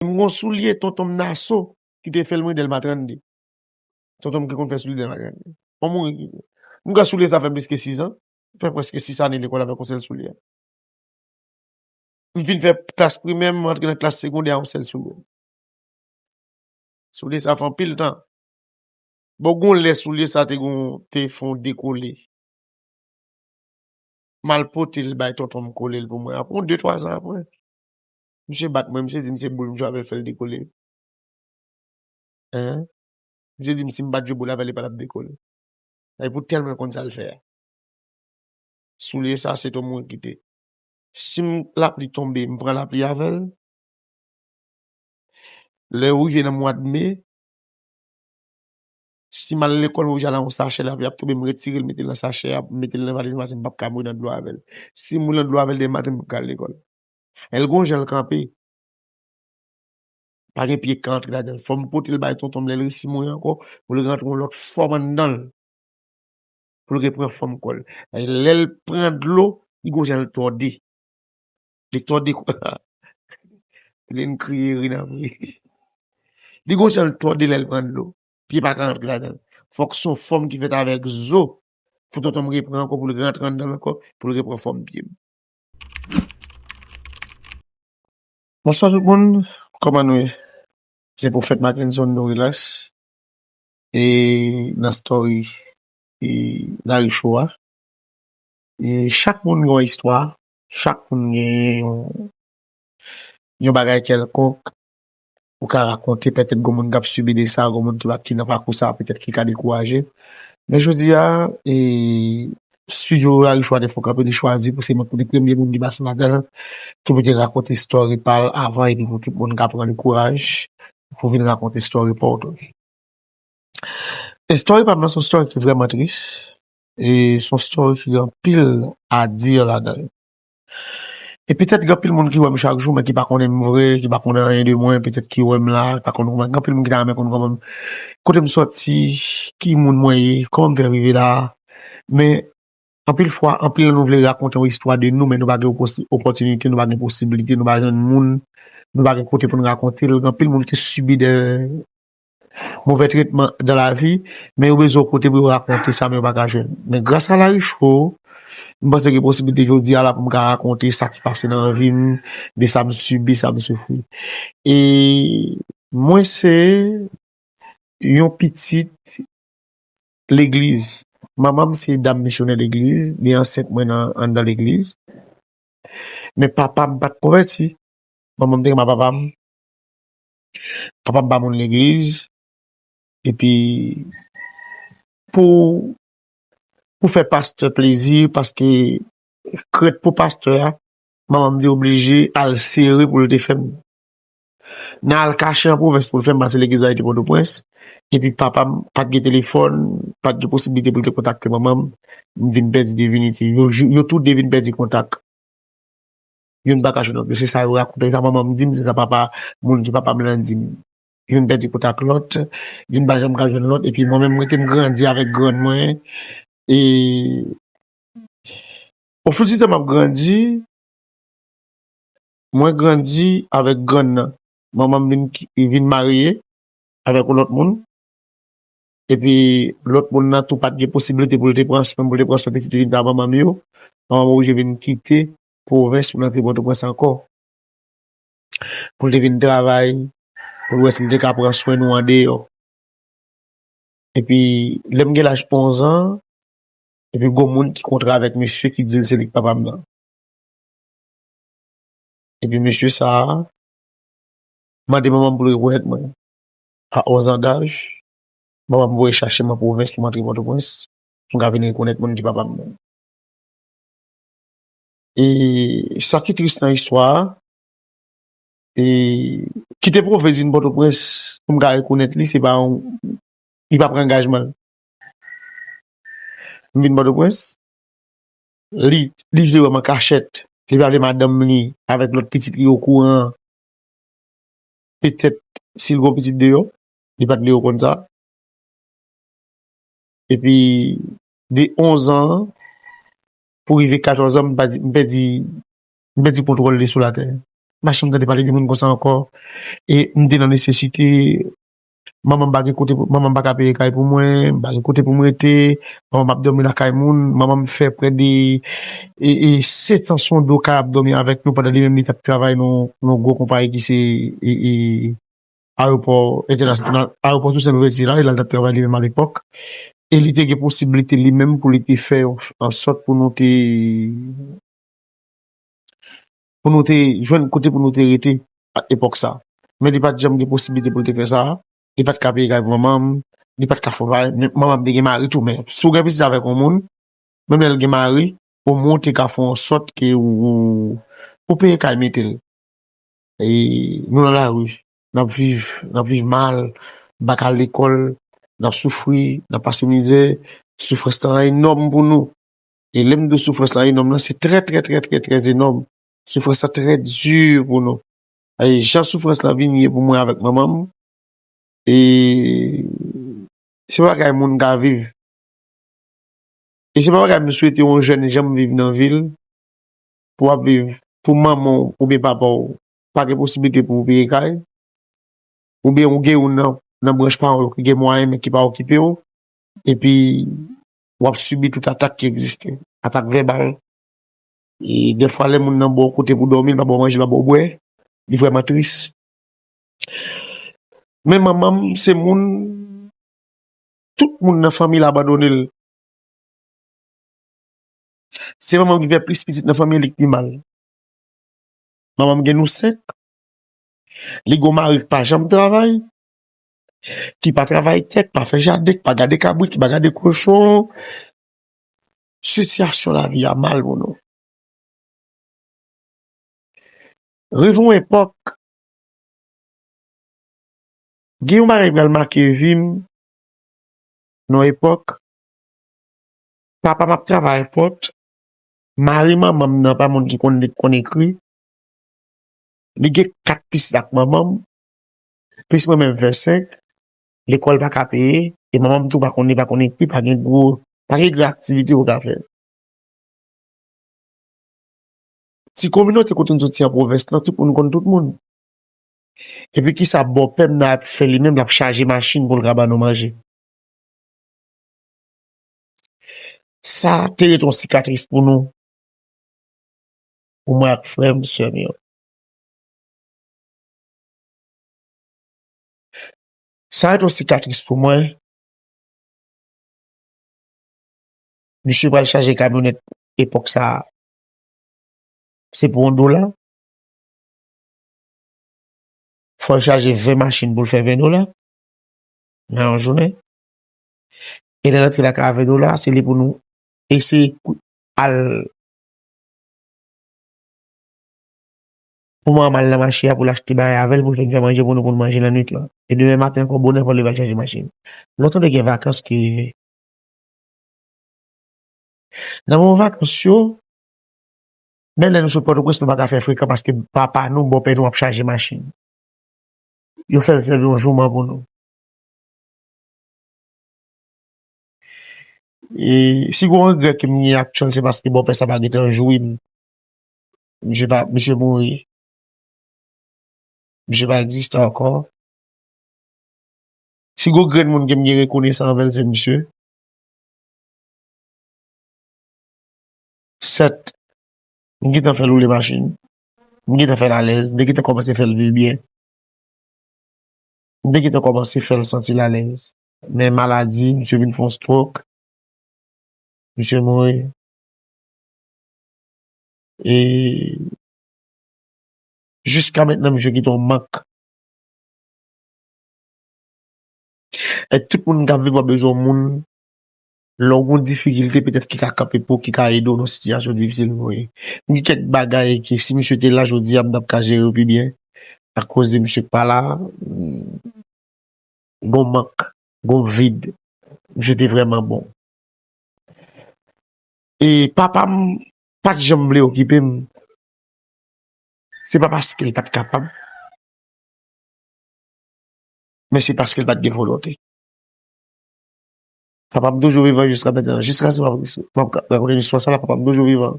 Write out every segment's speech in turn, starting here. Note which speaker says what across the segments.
Speaker 1: M gon soulye tonton m naso ki te fèl mwen delma 32 tonton m ki konn fè soulye delma 32 m mouri ki vre m kwè soulye sa fèm plis ke 6 an m fè preske 6 ane lekòl avèk yon sèl soulye m fin fè klas primè m rantre nan klas segondè a yon sèl soulye soulye sa fè anpil tan bon gon lè soulye sa te gon te fon dekole m al pote l bay tonton m kole l pou mwen apre yon 2 3 zan apre Misye bat mwen, misye di m se boul m jwe avè l fè l dekole. Hein? Misye di m si m pa t jwe boul avè l e pa t ap dekole. Sa e pou tèlman l konn sa l fè a. Soulye sa se to mwen kite. Si m lapli tonbe, m pran lapli avè l. Lè yo rive nan mwad me, si m al lekòl m oblije al a yon sachè lapli ap tonbe m retire l mete l nan sachè a, m mete l nan valiz m pase m p ap ka mouri nan dlo avè l. Si m mouri nan dlo avè l demen maten m p ap ka al lekòl. Lè l gon jan l kanpe, pa gen pye k ka antre ladan l. Fò m pote l bay tonton m lè l resi mouri ankò pou l rantre yon lòt fòm anndan l, pou l repran fòm kò l. Lè l pran dlo, li gon jan l tòde. Li tòde kò l a. Linn kriye ri nan vre. Li gon jan l tòde lè l pran dlo. Pye pa ka antre ladan l. Fòk se yon fòm ki fèt avèk zo pou tonton m repran ankò pou l rantre anndan l ankò pou l repran fòm pye m. Bonswa tout moun kòman nou ye se profèt Mackenson nou relax e nan story e lari show a e chak moun gen yon istwa chak moun gen yon yon bagay kèlkonk ou ka rakonte pètèt gwo moun kap sibi de sa, gwo moun ki pa ki nan pakou sa pètèt ki ka dekouraje. Men jodi a, e studio Rarichou a te fon kanpe li chwazi pou se mwen pou li premye moun ki pase ladanl, ki pou te rakonte story pal avan epi pou tout moun ka pran li kouraj pou vin rakonte story paw tou. E story pam nan son story ki vreman tris, e son story ki gen anpil a dire ladanl. E petèt gen anpil moun ki wè m chak jou men ki pa konnen m vre, ki pa konnen anyen de mwen, petèt ki wè m la, pa konn kouman, gen anpil moun ki ta renmen konn kouman m, kote m sòti, ki moun mwen ye, kouman m fè rive la a. Men, anpil fwa, anpil nan nou vle rakonte yon istwa de nou men nou pa gen opòtinite, nou pa gen posiblite, nou pa jwenn moun, nou pa gen kote pou n rakonte l. Gen anpil moun ki sibi de. Move tretman dan lavi, men yo bezwen yon kote pou yo rakonte sa men yo pa ka jwenn. Men gras a Laricho, m panse gen posiblite jodi a la pou m ka rakonte sa ki pase nan vi m, de sa m sibi, sa m soufri. E mwen se yon pitit legliz. Manman m se dam misyonè legliz, li ansent mwen anndan legliz. Men papa m pa t konvèti. Manman m te gen ma papa m. kapab pa moun legliz epi pou pou fè pastè plezi paske krent pou pastè a manman m te oblije al sere pou l te fè m nan al kache an pwovens pou l fè m pase legliz la e te pòtoprens epi papa m pa t gen telefòn pa t gen posiblite pou l te kontakte manman m m vin pèdi devinitè yo tou de vin pèdi kontak. Youn pa ka jwenn lòt yo. Se sa yo rakonte, se sa manman m di m, se sa papa moun ki papa m lan di m. Youn pèdi kout ak lòt, youn pa janm ka jwenn lòt. Epi mwen menm m rete m grandi avèk grann mwen. E ofoutitè m ap grandi, mwen grandi avèk grann nan. Manman m vin marye avèk yon lòt moun. Epi lòt moun nan tou pa t gen posiblite pou l te pran swen m, pou l te pran swen pitit li vin ba manman m yo. Manman m oblije vin kite pwovens pou l antre Pòtoprens ankò, pou l te vin travay, pou l wè si l te ka pran swen nou andeyò. Epi, lè m gen laj onzan, epi gon moun ki kontre avèk misye ki di l se li ki papa m nan. Epi misye sa a mande manman m pou l rekonèt mwen. A onzan daj, manman m voye chache mwen pwovens pou m antre Pòtoprens pou m ka vin rekonèt moun ki papa m nan. e sa ki tris nan istwa a, e ki te pwouve vin Pòtoprens pou m ka rekonèt li se pa yon, li pa pran angajman l. M vin Pòtoprens, li vle wè m an kachèt, li pa vle madanm li avèk lòt pitit li okouran, petèt si l gen yon pitit deyò, li pa t vle yo konn sa. Epi de onzan an, pou rive 14 an m pèdi m pèdi kontwòl de sou latè m pa chanm tande pale de moun konsa ankò e m te nan nesesite manman m pa gen kote manman m pa ka peye kay pou mwen m pa gen kote pou m rete manman m ap dòmi lakay moun manman m fè prè de e 7 ans on do kay ap dòmi avèk nou pandan li menm li t ap travay nan yon gwo konpayi ki se e. ayewopò entènasyonal, ayewopò Tousen Louvèti la, e lal tap travay li menm alepòk, e li te gen posibilite li menm pou li te fè yon ansòt pou nou te pou nou te jwenn kote pou nou te rete ak epòk sa, men li pat janm gen posibilite pou li te fè sa, li pat ka peye kay pou manmanm, li pat ka fon bagay, men manmanm te gen mari tou, men si w gen pitit avèk yon moun, menm lèl gen mari, omwen w te ka fon ansòt ke ou peye kay mete l. Nou nan lari, n ap viv, n ap viv mal, n pa ka al lekòl, n ap soufri, n ap pase mizè, soufrans lan enòm pou nou. E lè m di w soufrans lan enòm lan, se trè trè trè trè trè enòm. Soufrans lan trè di pou nou. E jan soufrans lan vin ye pou mwen avèk manman m, e se pa bagay moun ka viv. E se pa bagay m swete yon jèn janm viv nan vi l. pou wap viv pou manman w oubyen papa w pa gen posiblite pou ou peye kay oubyen ou gen youn nan branch paran w yo ki gen mwayen men ki pa okipe w epi wap sibi tout atak ki egziste, atak vèbal e dèfwa lè moun nan ba w kote pou dòmi, li pa ba w manje, li pa ba w bwè li vrèman tris men manman m se moun tout moun nan fanmi l abandone l. Se manman m ki fè plis pitit nan fanmi an, li k pi mal. Manman m gen nou senk, li gen yon mari k pa janm travay, ki pa travay tè, k pa fè jaden, k pa gade kabrit, ki pa gade kochon. Sitiyasyon lavi a mal pou nou. Rive yon epòk, gen yon bagay ki pral make vi m nan yon epòk, Papa m ap travay fòt. Mari manman m nan pa moun ki konn li, ki konn ekri. Li gen kat pitit ak manman m. Plis mwen menm fè senk. Lekòl pa ka peye. E manman m tou pa konn li, pa konn ekri. Pa gen gwo, pa gen gran aktivite ou ka fè. Ti kominote kote m soti an pwovens lan, tout moun konn tout moun. Epi ki sa bòpè m nan ap fè li menm? L ap chaje machin pou l ka ban nou manje. Sa te ret yon sikatris pou nou, pou mwen ak frè m, sè m yo. Sa ret yon sikatris pou mwen, misye pral chaje kamyonèt epòk sa a, se pou yon dola, fò l chaje 20 machin pou l fè 20 dola nan yon jounen. E lè rantre lakay avè nou la, se li pou nou eseye al pou manman l nan mache a pou l achte bagay avè l pou l vin fè manje pou nou pou nou manje lannuit lan. E demen maten ankò bonè pou l leve al chaje machin. Nou tande gen vakans ki rive. Nan moman vakans yo, menm lè nou sot Pòtoprens nou pa ka fè frekan paske papa nou, bòpè nou ap chaje machin. Yo fè l sèvi yon jouman pou nou. Si gon regrè kem gen ak tchoul se paske bòpè sa pa gentan jourem misye pa misye mouri misye pa egziste ankò si gon grenn moun kem gen rekonesan anvèl se misye 7 m gentan fèl woule machin m gentan fèl alèz m te gentan kòmanse fèl viv byen M te gentan kòmanse fè l santi l alèz. Men maladi, misye vin fè yon strok. Misye mouri. E jiska mentnan misye kite yon mak. E tout moun k ap viv wap bezwen yon moun. Lè w gen yon difikilte petèt ki ka kanpe pou w, ki ka ede w nan yon sitiyasyon difisil ou ye. Gen kèk bagay ke si misye te la jodi a m ta p ka jere yo pi byen. Akoz de misye k pa la, gen yon mank, gen yon vid. Misye te vrèman bon. E papa m pa t janm vle okipe m. Se pa paske l pa t kapab, men se paske l pa t gen volonte. Papa m toujou vivan jiska mètnan, jiska se map rakonte listwa sa la papa m toujou vivan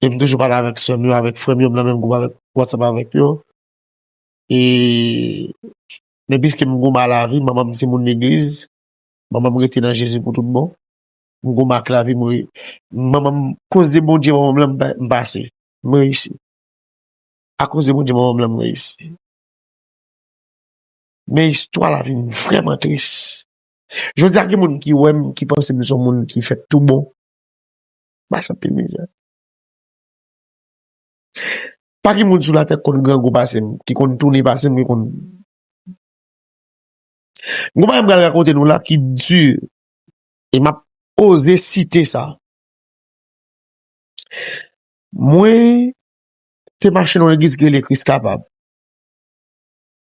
Speaker 1: e m toujou pale avèk sè m yo avèk frè m yo m nan menm gwoup avèk watsap avèk yo e men piske m gou ma lavi manman m se moun legliz manman m rete nan jezi pou tout bon m gou ma ak lavi m manman m koz de bondye manman m lan m pase m reyisi akoz de bondye manman m lan m reyisi. Men istwa la vin vrèman tris. Jodi a gen moun ki wè m, ki panse m son moun ki fèt tou bon. M pase anpil mizè. Pa gen moun sou latè ki konn grangou pase m, ki konn tounen pase m, ki konn. Gen yon bagay m pral rakonte nou la ki di e m ap oze site sa. Mwen te mache nan yon legliz ki rele Kris Kapab.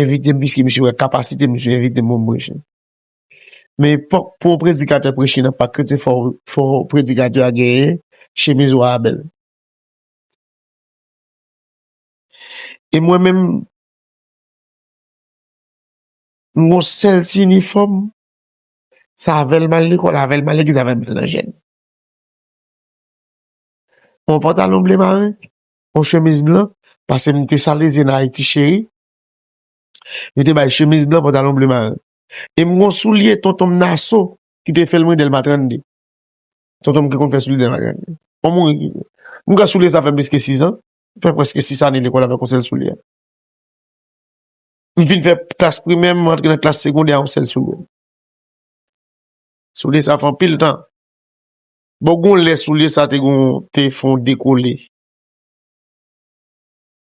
Speaker 1: envite m piske misye wè kapasite m misye envite m pou m preche. Men epòk pou yon predikatè preche nan pak kretyen fò predikatè a genyen chemiz wa a bèl. E mwen menm m gon sèl ti inifòm sa avè l m al lekòl avè l m al legliz avè l m al nan jèn. Yon pantalon ble mare. yon chemiz blan, pase m te salezyen nan Ayiti cheri, yo te bay chemiz blan, pantalon ble maren. E m gon soulye tonton m Naso ki te fè l mwen Dèlma 32. Tonton m ki konn fè soulye Dèlma 32. Bon moun, m kwè soulye sa fè m plis ke 6 an, m fè prèske 6 ane lekòl avèk yon sèl soulye. M fin fè klas primè, m rantre nan klas segondè a yon sèl soulye. Soulye sa fè anpil tan. Bon gon lè soulye sa te gon te fon dekole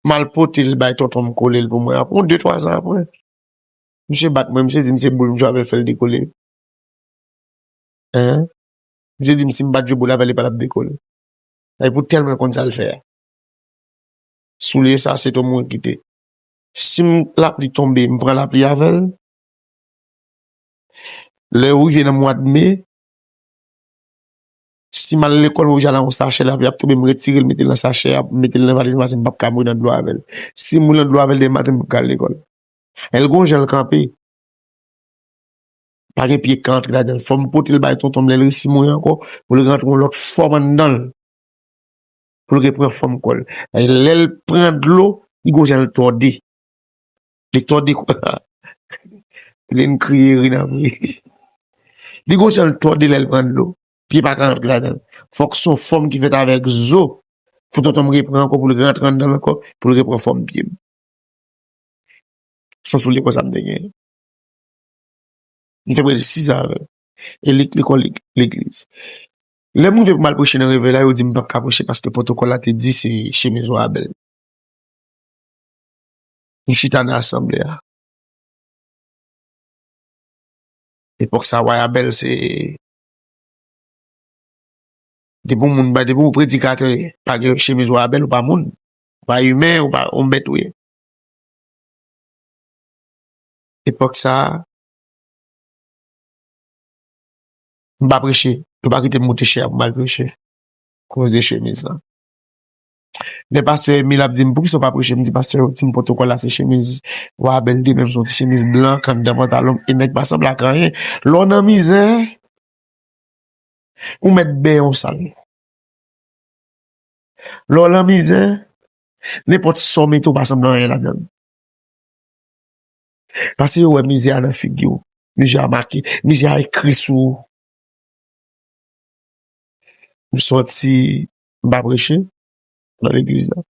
Speaker 1: mal potel bay tonton m kolel pou mwen apre yon de twa zan apre misye bat mwen misye dim se boul m jwe avèl fèl dekole eeh misye dim sim pat jwe boul avèl li patap dekole e pou tèl mwen konn sal fè a soulye sa se to mwen kite sim lapli tonbe m pran lapli avèl lè ou rive nan mwad me. Si m al lekòl, mwen oblije al ak yon sachè lavi, y ap tobe, m retire l, m mete l nan sachè a, m mete l nan valiz mwen, paske m pap ka mouri nan dlo avè l. Si m mouri nan dlo avè l demen maten, m pap ka al lekòl. L gen yon jan l kanpe, pa gen pye k ka antre ladan l. Fò m pote l bay tonton m lè l resi mouri ankò, pou l rantre yon lòt fòm anndan l, pou l repran fòm kò l. Lè l pran dlo, li gen yon jan l tòde. Li tòde kò sa. Lynn kriye ri nan vre. Li gon jan l tòde lè l pran dlo. Pye pa ka rantre ladan l. Fòk s on fòm ki fèt avèk zo pou tonton m repran ankò pou l rantre anndan l ankò pou l repran fòm pye m. S on soulye konsa m te genyen. M te prèske sizan avè l. E li t lekòl legliz. Lè m rive pou m al preche nan Revèy la, yo di m pap ka preche paske pwotokòl la te di se chemiz wa a bèl. Li chita nan asanble a. Epòk sa wa ya bèl se depi yon moun depi yon predikatè pa gen chemiz wa ya bèl ou pa moun ou pa imen ou pa yon bèt ou ye epòk sa m pa preche yo pa kite m moute chè a pou m al preche koz de chemiz lan. Lè pastè Emile ap di m poukisa w pa preche, m di pastè yo ti m pwotokòl la se chemiz Wa Bèlde menm se yon ti chemiz blan k anndan pantalon m e nèg pa sanble ak anyen. Lè w nan mizè, ou mèt benyen w sal. Lè w nan mizè, nenpòt sa w mete ou pa sanble anyen ladan l. Pase yo wè mizè a nan figi w, mizè a make, mizè a ekri sou ou. M sòti m pa preche nan legliz la.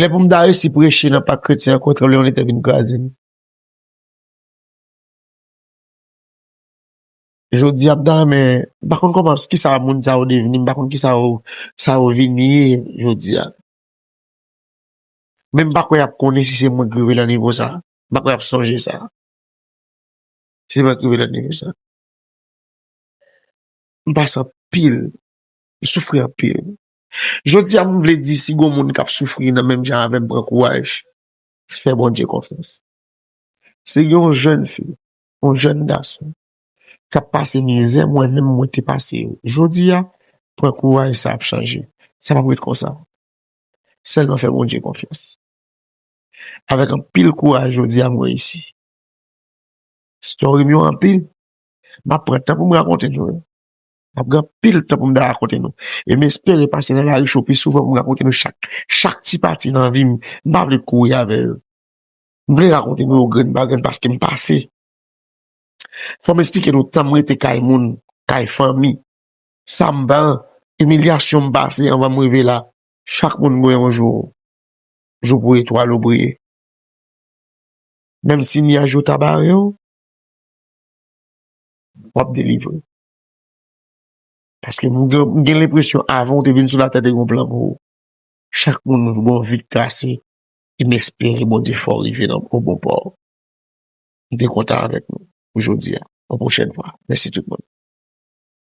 Speaker 1: Lè pou m ta resi preche nan pak kretyen ankò tranblemann de tè vin kraze m. Jodi a m ta renmen, m pa konn kòman, ki sa moun sa yo devni, m pa konn ki sa yo, sa yo vin ye jodi a. Men m pa kwè y ap konnen si se moun ki rive nan nivo sa a. M pa kwè y ap sonje sa a. Si se pat rive nan nivo sa. M pase anpil. M soufri anpil. Jodi a m vle di si gon moun kap soufri nan menm jan avèm pran kouraj. Fè Bondye konfyans. Si gen yon jèn fi, yon jèn gason kap pase mizè mwen menm mwen te pase yo. Jodi a pran kouraj sa ap chanje. Sa pap ret konsa. Sèlman fè Bondye konfyans. Avèk anpil kouraj jodi a m reyisi. Story m yo anpil. M ap pran tan pou m rakonte nou yo. M ap gen anpil tan pou m ta rakonte nou. E m espere pase nan lari cho pi souvan pou m rakonte nou chak, chak ti pati nan vi m. M pa vle kouri avè yo. M vle rakonte nou yo grenn pa grenn paske m pase. Fò m esplike nou tan m rete kay moun, kay fanmi, sa m pran, imilyasyon m pase anvan m rive la. Chak moun gen yon jou. Jou pou etwal ou briye. Menm si nyaj yo ta bare w, w ap delivre. Paske m gen lenpresyon avan w te vin sou latè te gen yon plan pou ou. Chak moun gen yon vi trase e m espere Bondye fè w rive nan bon pò. M te kontan avèk nou pou jodi a. Pou pwochèn fwa. Mèsi tout moun.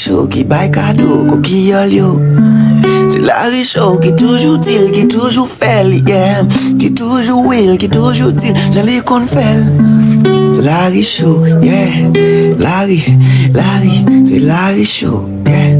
Speaker 2: Show ki bay kado kokiyòl yo Se lari show ki toujou di l, ki toujou fè l, yeah Ki toujou wi l, ki toujou di l jan li konn fè l Se lari show, yeah Lari, lari, se lari show, yeah